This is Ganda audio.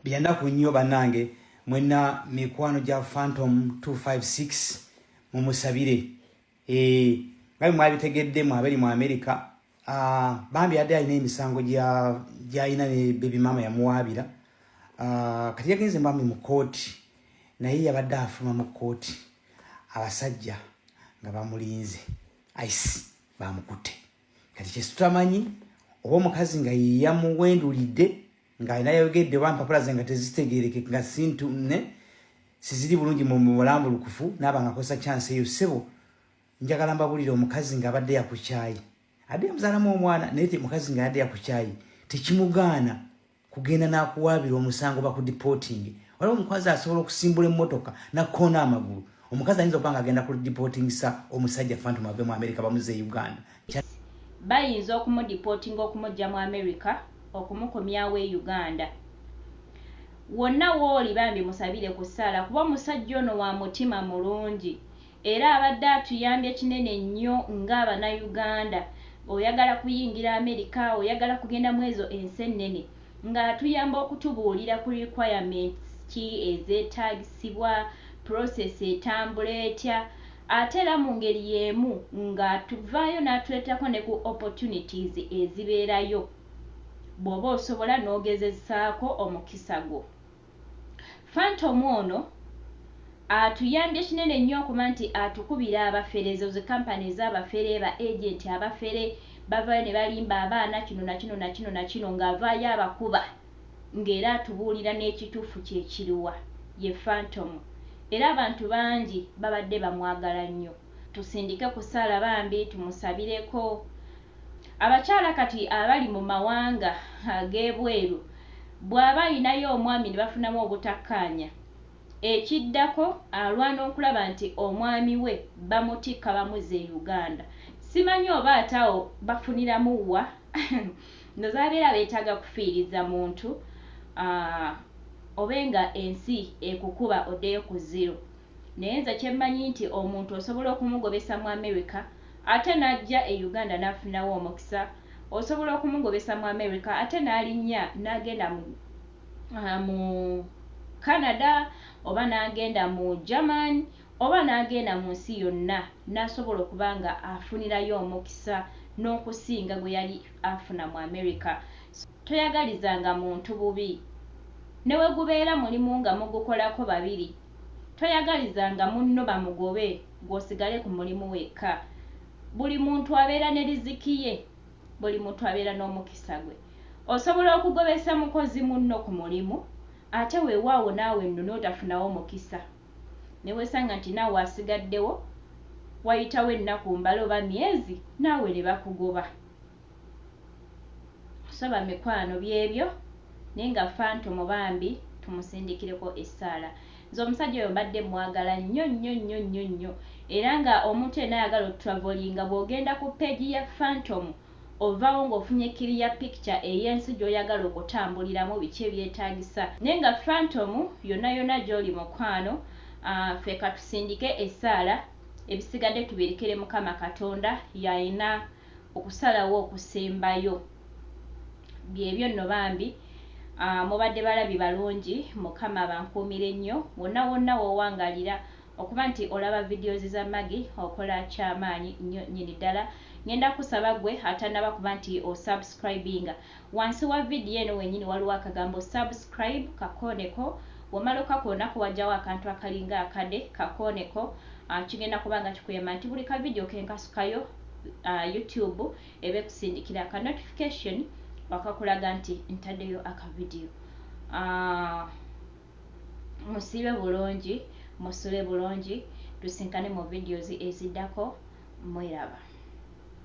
Byanaku nnyo banange mwena mikwano gya Phantom 256 mumusabire eh ngai mwabitegedde mwabeli mu America ah bambi ade alina emisango gya gya ina ne baby mama ya muwabira ah kati yagenze mbambi mu court naye yabadde afuma mu court abasajja nga bamulinze ice bamukute kati kyesitamanyi oba mukazi nga yiyamuwendulidde nga alina yayogedde oba mpapula ze nga tezitegeereke nga sintu ne siziri bulungi mu bulambulukufu naaba nga akozesa kyansi eyo ssebo njagala mbabulire omukazi ng'abadde yakukyayi adde yamuzaalamu omwana naye mukazi nga yadde yakukyayi tekimugaana kugenda n'akuwaabira omusango bakudipootinge waliwo omukazi asobola okusimbula emmotoka nakoona amagulu omukazi ayinza okuba nga agenda ku dipootingisa omusajja fantom ave mu amerika bamuze e uganda Bayinza okumudipootinga okumuggya mu America okumukomyawo e Uganda. Wonna wooli bambi musabire ku ssaala kuba omusajja ono wa mutima mulungi era abadde atuyambye kinene nnyo nga bana Uganda oyagala kuyingira America oyagala kugenda mwezo ensi ennene Nga atuyamba okutubuulira ku requirements ki ezeetaagsibwa, process etambula etya ate era mu ngeri y'emu ng'atuvaayo n'atuleeterako ne ku opportunities ezibeerayo bw'oba osobola n'ogezezaako omukisa gwo. Phantom ono atuyambye kinene nnyo okuba nti atukubira abafere ezo zi company ezabafere ba agent abafere bavayo ne balimba abaana kino na kino na kino na kino nga avaayo abakuba nga era atubuulira n'ekituufu kye kiriwa ye Phantom era abantu bangi babadde bamwagala nnyo. Tusindike ku ssaala bambi tumusabireko Abakyala kati abali mu mawanga ag'ebweru bw'aba alinayo omwami ne bafunamu obutakkaanya, ekiddako alwana okulaba nti omwami we bamutikka bamuzza e Uganda. Simanyi oba ate awo bafuniramu wa? Ndowooza babeera beetaaga kufiiriza muntu obe ng'ensi ekukuba oddeyo ku ziro. Naye nze kyemmanyi nti omuntu osobola okumugobesa mu America ate najja e Uganda nafunawo omukisa, osobola okumugobesa mu America ate nalinnya nagenda mu mu Canada oba nagenda mu German oba nagenda mu nsi yonna nasobola okuba nga afunirayo omukisa nokusinga gweyali afuna mu America so toyagalizanga muntu bubi newegubeera mulimu nga mugukolako babiri Toyagalizanga munno bamugobe gwe osigale ku mulimu wekka. Buli muntu abeera ne riziki ye. Buli muntu abeera n'omukisa gwe. Osobola okugobesa mukozi munno ku mulimu ate wewaawo naawe nno n'otafunawo mukisa ne wesanga nti naawe asigaddewo wayitawo ennaku mbale oba myezi naawe ne bakugoba. So bamikwano byebyo naye nga phantom bambi tumusindikireko esaala nze omusajja oyo mbadde mwagala nnyo nnyo nnyo nnyo nnyo era nga omuntu yena ayagala otravelinga bwogenda ku page ya phantom ovawo nga ofunye clear picture eyensi gyoyagala okutambuliramu biki ebyetagisa naye nga phantom yona yona gyoli mukwano aah ffe katusindike esaala ebisigadde tubirikire mukama katonda yayina Okusalawo okusembayo byebyo nno bambi mubadde balabi balungi mukama abankuumire nnyo wonna wonna wowangalira okuba nti olaba videos za Maggie okola kyamaanyi nnyo nnyini ddala ngenda kusaba gwe atanaba kuba nti osubscribinga Wansi wa video eno wenyini waliwo akagambo subscribe kakooneko womala okakoonako wajawo akantu akalinga akade kakooneko kigenda kuba nga kikuyamba nti buli ka video kenkasukayo YouTube eba ekusindikira aka notification akakulaga nti ntadeyo aka video musiibe bulungi musule bulungi tusinkane mu videos ezidako mweraba